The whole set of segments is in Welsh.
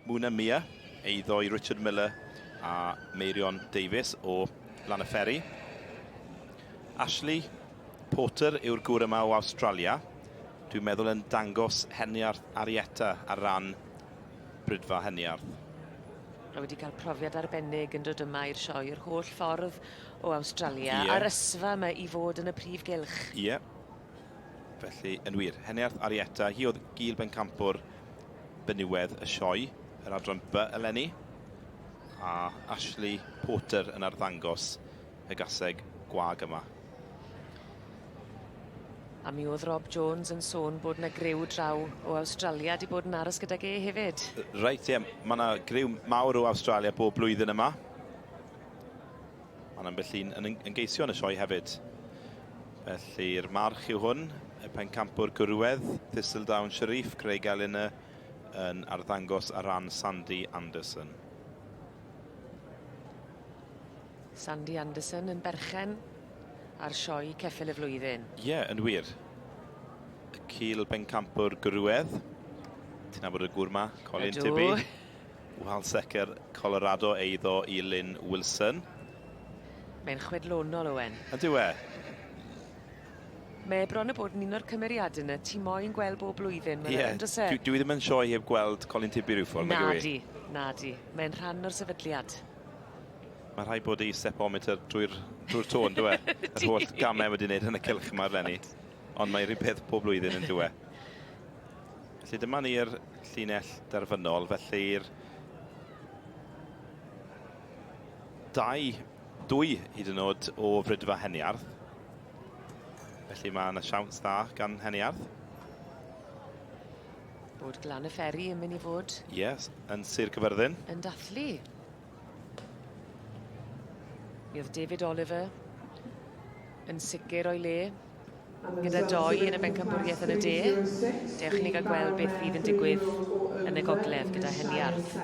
Muna Mia, ei ddoi Richard Miller a Meirion Davies o Lan y Fferi. Ashley Porter yw'r gŵr yma o Awstralia. Dwi'n meddwl yn dangos heniarth Arietta ar ran brydfa heniarth. A wedi cael profiad arbennig yn dod yma i'r sioe yr holl ffordd o Awstralia yeah. a'r ysfa yma i fod yn y prif gylch. Ie. Yeah. Felly, yn wir, Heniarth Arietta, hi oedd Gil Bencampwr Beniwedd y Sioe, yr adran By eleni, a Ashley Porter yn arddangos y gaseg gwag yma. A mi oedd Rob Jones yn sôn bod yna griw draw o Awstralia wedi bod yn aros gydag e hefyd. Reit, ie, mae yna griw mawr o Awstralia bob blwyddyn yma. Mae'n ambell un yn ymgeisio yn y sioe hefyd. Felly'r march yw hwn, y pencampwr gwrywedd, Thistledown Sharif, Craig Eleanor, yn arddangos ar ran Sandy Anderson. Sandy Anderson yn berchen ar sioe ceffil y flwyddyn. Ie, yeah, yn wir. Y cil bencampwr gwrywedd. Ti'n abod y gŵr ma, Colin Ydw. Tibby? Wal secer Colorado eiddo i Lynn Wilson. Mae'n chwedlonol, Owen. Ydyw e? Mae bron a bod yn un o'r cymeriadau yna ti moyn gweld bob blwyddyn, yeah. yn dys e? Dwi, dwi ddim yn sioe heb gweld Colin Tibby rhyw ffordd, nag yw Na di, mae'n rhan o'r sefydliad. Mae rhai bod ei stepometer drwy'r drwy tôn, dwi e? Yr holl gamau wedi wneud yn y cylch yma, Lenny. Ond mae rhywbeth pob blwyddyn yn dwi e? Felly dyma ni'r llinell derfynol, felly'r dau, dwy hyd yn oed o frydfa Heniarth. Felly mae yna siawns dda gan Heniarth. Bod glan y fferi yn mynd i fod... Yes, yn Sir Cyfyrddin. Yn dathlu. Mi oedd David Oliver yn sicr o'i le. gyda doi yn y bencampwriaeth yn y de. Dewch i ni gael gweld beth fydd yn digwydd yn y gogledd gyda Heniarth.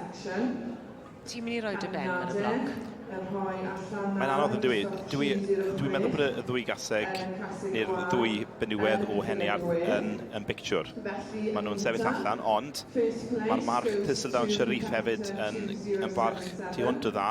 Ti'n mynd i roi dy ben ar y bloc? Mae'n anodd yn dwi. Dwi, dwi'n meddwl bod y ddwy gaseg neu'r ddwy benywedd o Heniarth yn, yn bictiwr. Maen nhw'n sefyll allan, ond mae'r march Thistledown Sharif hefyd yn, yn barch tu hwnt o dda.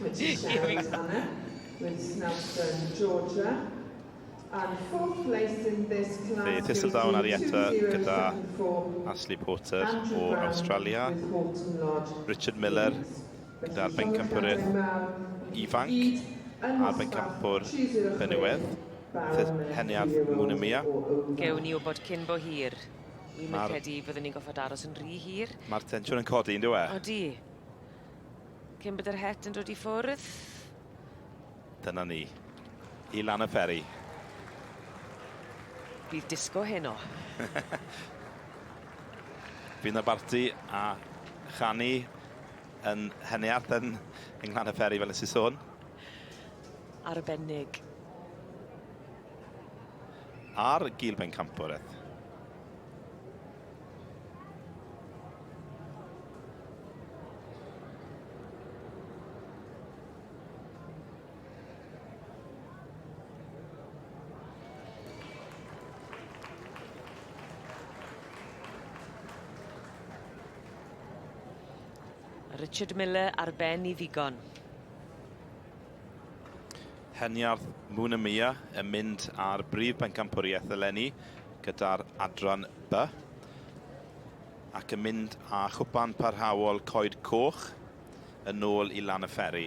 Mae ti siarad Anna, with Snowdon, Georgia. And fourth place in this class Fe Thistledown Arietta gyda Ashley Porter o Awstralia, Richard Miller gyda'r bencampwrydd ifanc a'r bencampwr benywedd, Heniad Munamia. Gewn ni wybod cyn bo hir. Wi'm yn credu fyddwn ni'n gorfod aros yn rhy hir. Mae'r tensiwn yn codi, yn dyw e? Odi. Cyn bod yr het yn dod i ffwrdd. Dyna ni. I lan y peri. Bydd disgo heno. Bydd na barti a chanu yn Henneart yn yng Nglan y Peri fel nes i sôn. Arbennig. Ar gil ben campwr eith. Richard Miller ar ben i ddigon. Heniarth Muna Mia yn mynd ar brif bencampwriaeth eleni gyda'r adran B ac yn mynd â chwpan parhaol Coed Coch yn ôl i lan y fferi.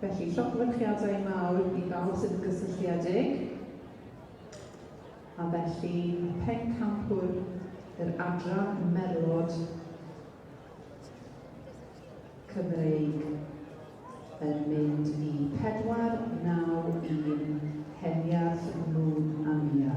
Felly, llofruchiadau mawr i bawb sydd yn gysylltiedig. A felly, y pencampwr, yr adran merlod Cymreig yn mynd i 4-9-1 Heniarth Moon Amia.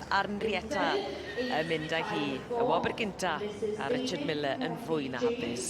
a'r Nrietta yn mynd â hi y wobr gynta a Richard Miller yn fwy na hapus.